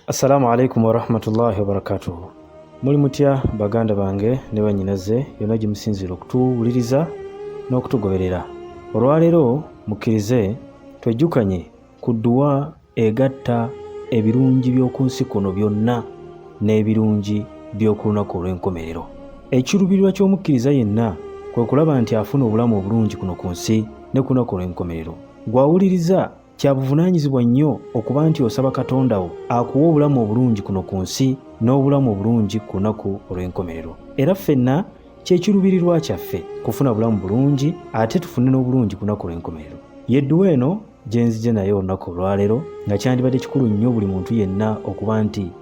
Assalamu alaikum warahmatullahi wabarakatuhu. Muli mutya baganda bange ne bannyinaze yonna gye musinziira okutuwuliriza n'okutugoberera. Olwaleero mukkirize twejjukanye ku dduwa egatta ebirungi by'oku nsi kuno byonna n'ebirungi by'oku lunaku olw'enkomerero. Ekiruubirirwa ky'omukkiriza yenna kwe kulaba nti afuna obulamu obulungi kuno ku nsi ne ku lunaku olw'enkomerero. Gw'awuliriza Kya buvunaanyizibwa nnyo okuba nti osaba Katonda wo akuwe obulamu obulungi kuno ku nsi n'obulamu obulungi ku lunaku olw'enkomerero. Era ffenna kye kiruubirirwa kyaffe kufuna bulamu bulungi ate tufune n'obulungi ku lunaku olw'enkomerero. Yedduwa eno gye nzija nayo olunaku olwaleero nga kyandibadde kikulu nnyo buli muntu yenna okuba nti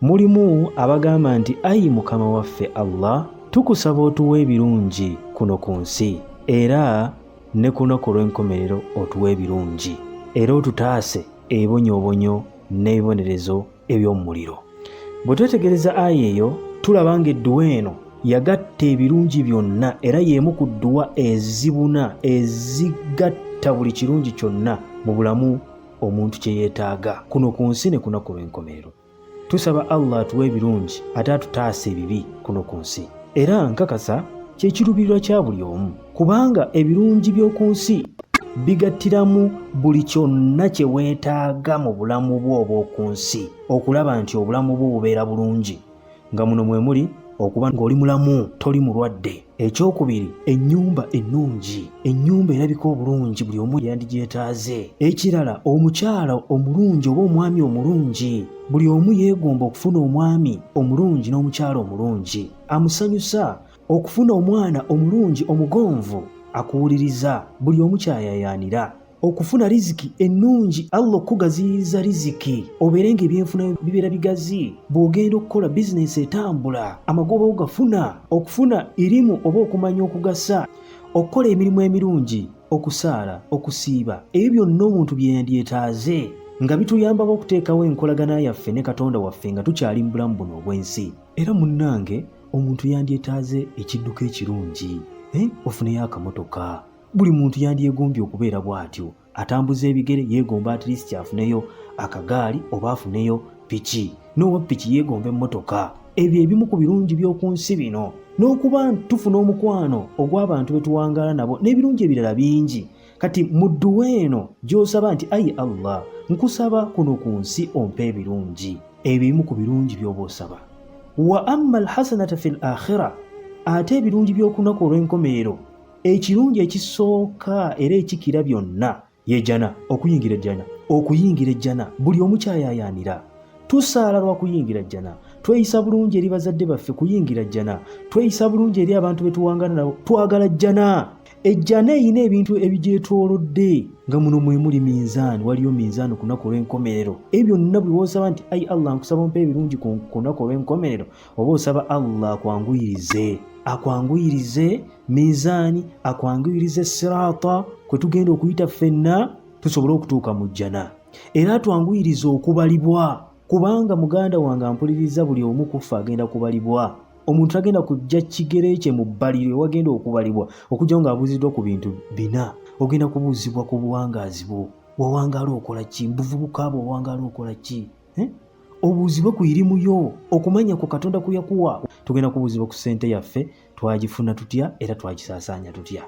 Mulimu abagamba nti ayi mukama waffe Allah tukusaba otuwa ebirungi kuno ku nsi era ne kunaku olw'enkomerero otuwa ebirungi era otutaase ebibonyoobonyo n'ebibonerezo eby'omumuliro bwe twetegereza ayi eyo tulaba nga edduwa eno yagatta ebirungi byonna era y'emu ku dduwa ezibuna ezigatta buli kirungi kyonna mu bulamu omuntu kye yeetaaga kuno ku nsi ne kunaku lw'enkomerero tusaba allah atuwa ebirungi ate atutaasa ebibi kuno ku nsi era nkakasa kyekiruubirirwa kya buli omu kubanga ebirungi by'oku nsi bigattiramu buli kyonna kye weetaaga mu bulamu bwo obw'oku nsi okulaba nti obulamu bwo bubeera bulungi nga muno mwe muli okuba ng'oli mulamu toli mulwadde Ekyokubiri, ennyumba ennungi. Ennyumba erabika obulungi buli omu yandigyetaaze. Ekirala, omukyala omulungi oba omwami omulungi. Buli omu yeegomba okufuna omwami omulungi n'omukyala omulungi amusanyusa. Okufuna omwana omulungi omugonvu akuwuliriza buli omu kyayayaanira. okufuna riziki ennungi allah okukugaziyiza riziki obeere nga ebyenfuna bibeera bigazi bw'ogenda okukola bizinensi etambula amagoba ogafuna okufuna irimu oba okumanya okugasa okukola emirimu emirungi okusaala okusiiba ebyo byonna omuntu bye yandyetaaze nga bituyambako okuteekawo enkolagana yaffe ne katonda waffe nga tukyali mu bulamu buno obw'ensi era munnange omuntu yandyetaaze ekidduka ekirungi eh, ofuneyo akamotoka buli muntu yandyegombye okubeera bw'atyo atambuza ebigere yeegomba at least afuneyo akagaali oba afuneyo piki n'owa piki yeegomba emmotoka ebyo ebimu ku birungi by'oku nsi bino n'okuba tufuna omukwano ogw'abantu be tuwangaala nabo n'ebirungi ebirala bingi kati mu dduwa eno gy'osaba nti ayi allah nkusaba kuno ku nsi ompa ebirungi ebyo ebimu ku birungi by'oba osaba wa amma alhasanata fi l akhira ate ebirungi by'okunaku olw'enkomerero ekirungi ekisooka era ekikira byonna yejana okuyingira ejjana okuyingira ejjana buli omu kyayayaanira tusaala lwa kuyingira jjana tweyisa bulungi eri bazadde baffe kuyingira jjana tweyisa bulungi eri abantu be tuwangana nabo twagala jjana ejjana erina ebintu ebigyetoolodde nga muno mwe muli minzaani waliyo minzaani ku lunaku olw'enkomerero ebyo byonna buli woosaba nti ai allah nkusaba mpa ebirungi ku lunaku olw'enkomerero oba osaba allah akwanguyirize akwanguyirize miizaani akwanguyirize siraata kwe tugenda okuyita ffenna tusobole okutuuka mu jjana era atwanguyirize okubalibwa kubanga muganda wange ampuliriza buli omu kuffe agenda kubalibwa omuntu agenda kujja kigere kye mu bbaliro ewagenda okubalibwa okujjawo ng'abuuziddwa ku bintu bina ogenda kubuuzibwa ku buwangaazi bwo wawangaala okola ki mubuvubuka bwe owangaala okola ki eh? obuuzibe ku irimu yo okumanya ku katonda ku yakuwa tugenda kubuuziba ku sente yaffe twagifuna tutya era twagisaasaanya tutya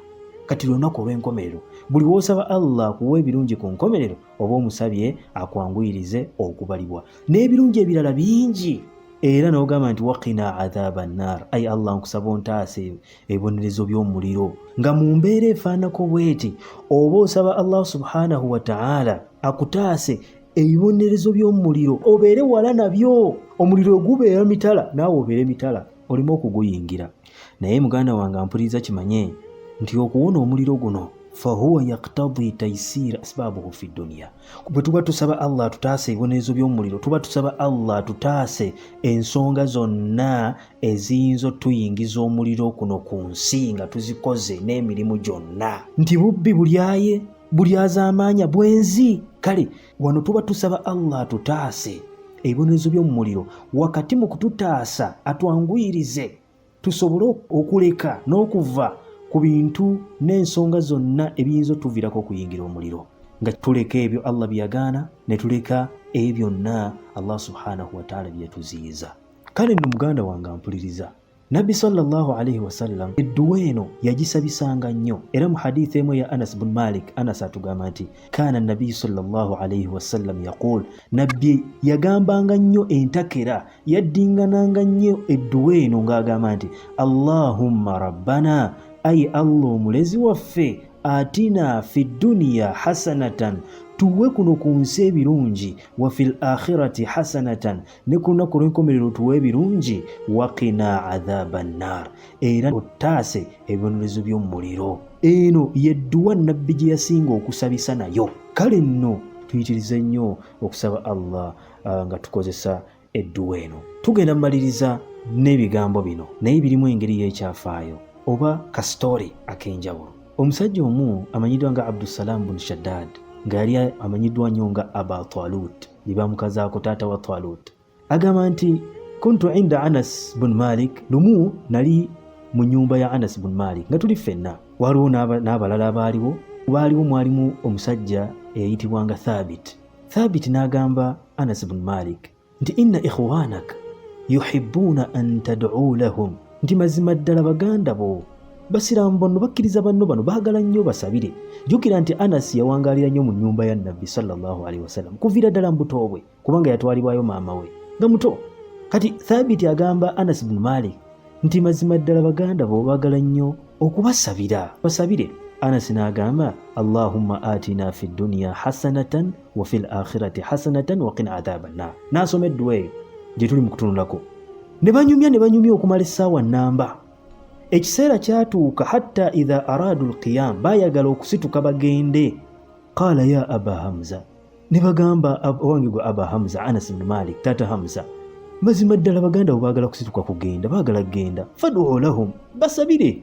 kati lunaku olw'enkomerero buli w'osaba allah akuwa ebirungi ku nkomerero oba omusabye akwanguyirize okubalibwa n'ebirungi ebirala bingi era n'ogamba nti wakina adhaba nnar ayi allah nkusaba ontaase ebibonerezo by'omuliro nga mu mbeera efaanako bweti oba osaba allah subhanahu wataala akutaase ebibonerezo by'omu muliro obeere wala nabyo omuliro ogubeera mitala naawe obeere mitala oleme okuguyingira naye muganda wange ampuliriza kimanye nti okuwona omuliro guno fahuwa yaktadi taisira asbabuhu fi duniya bwe tuba tusaba allah atutaase ebibonerezo by'omuliro tuba tusaba allah atutaase ensonga zonna eziyinza otuyingiza omuliro kuno ku nsi nga tuzikoze n'emirimu gyonna nti bubbi bulyaye buli azaamaanya bwenzi kale wano tuba tusaba allah atutaase ebibonerezo by'omu muliro wakati mu kututaasa atwanguyirize tusobole okuleka n'okuva ku bintu n'ensonga zonna ebiyinza otuviirako okuyingira omuliro nga tuleka ebyo allah byeyagaana ne tuleka ebyo byonna allah subhanahu wataala byeyatuziyiza kale nno muganda wange ampuliriza Nabbi sallallahu alaihi wasallam edduwa eno yagisabisanga nnyo era mu hadith emu ya Anas bin Malik Anas atugamba nti kaana nabiyu sallallahu alaihi wasallam yaqul nabbi yagambanga nnyo entakera yaddingananga nnyo edduwa eno ng'agamba nti allahumma rabbana ayi allah omulezi waffe atina fi duniya hasanatan tuwe kuno ku nsi ebirungi wa fil akhirati hasanatan ne ku lunaku olw'enkomerero tuwe ebirungi waqina adhaba nnar era ottaase ebibonerezo by'omu muliro eno yedduwa nabbi gye yasinga okusabisa nayo kale nno tuyitirize nnyo okusaba allah uh, nga tukozesa edduwa eno tugenda mumaliriza n'ebigambo bino naye birimu engeri y'ekyafaayo oba kasitoole ak'enjawulo omusajja omu amanyiddwa nga abdusalaamu bun shaddad nga yali amanyiddwa nnyo nga aba talut ne bamukazaako taata wa talut agamba nti kuntu inda anas bun malik lumu nali mu nyumba ya anas bun malik nga tuli ffenna waliwo n'abalala abaaliwo baaliwo mwalimu omusajja eyayitibwanga thabit thabit n'agamba anas bun malik nti inna ikhwanak yuhibuuna an taduu lahum nti mazima ddala baganda bo basiraamu banno bakkiriza banno bano baagala nnyo basabire jjukira nti anasi yawangaalira nnyo mu nnyumba ya nabbi sallallahu alaihi wasallam kuviira ddala mu buto bwe kubanga yatwalibwayo maama we nga muto kati thabiti agamba anas bnu malik nti mazima ddala baganda bo baagala nnyo okubasabira basabire anas n'agamba allahumma atina fi dduniya hasanatan wafi l akhirati hasanatan waqina adhaba nnar nasoma edduwa eyo gyetuli mu kutunulako ne banyumya ne banyumya okumala essaawa nnamba ekiseera kyatuuka hatta idha araadu lqiyam baayagala okusituka bagende qaala ya aba hamza ne bagamba owange gwe aba hamza anas bni malik taata hamza mazima ddala baganda bo baagala kusituka kugenda baagala kugenda fadu lahum basabire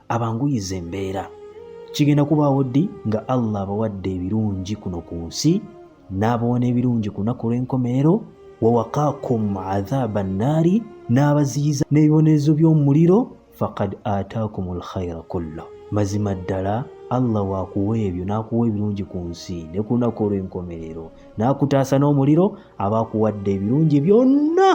abanguyiza embeera kigenda kubaawo ddi nga allah abawadde ebirungi kuno ku nsi n'abawana ebirungi ku lunaku olw'enkomerero wawakakum adhaaba nnaari n'abaziyiza n'ebibonerezo by'omuliro fakad ataakum lkhaira kullo mazima ddala allah wakuwa ebyo n'akuwa ebirungi ku nsi ne ku lunaku olw'enkomerero n'akutaasa n'omuliro aba akuwadde ebirungi byonna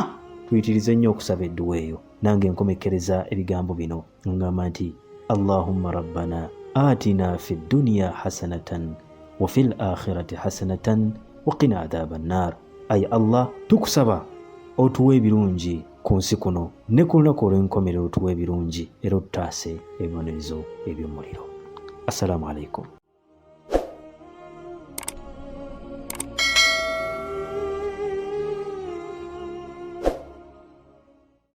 tuyitirize nnyo okusaba edduwa eyo nange nkomekkereza ebigambo bino ngamba nti allahumma rabbana atina fi dduniya hasanatan wa fi lakhirati hasanatan waqina adhaba nnar ayi allah tukusaba otuwa ebirungi ku nsi kuno ne ku lunaku olw'enkomerero otuwa ebirungi era otutaase ebibonerezo eby'omuliro assalamu alaikum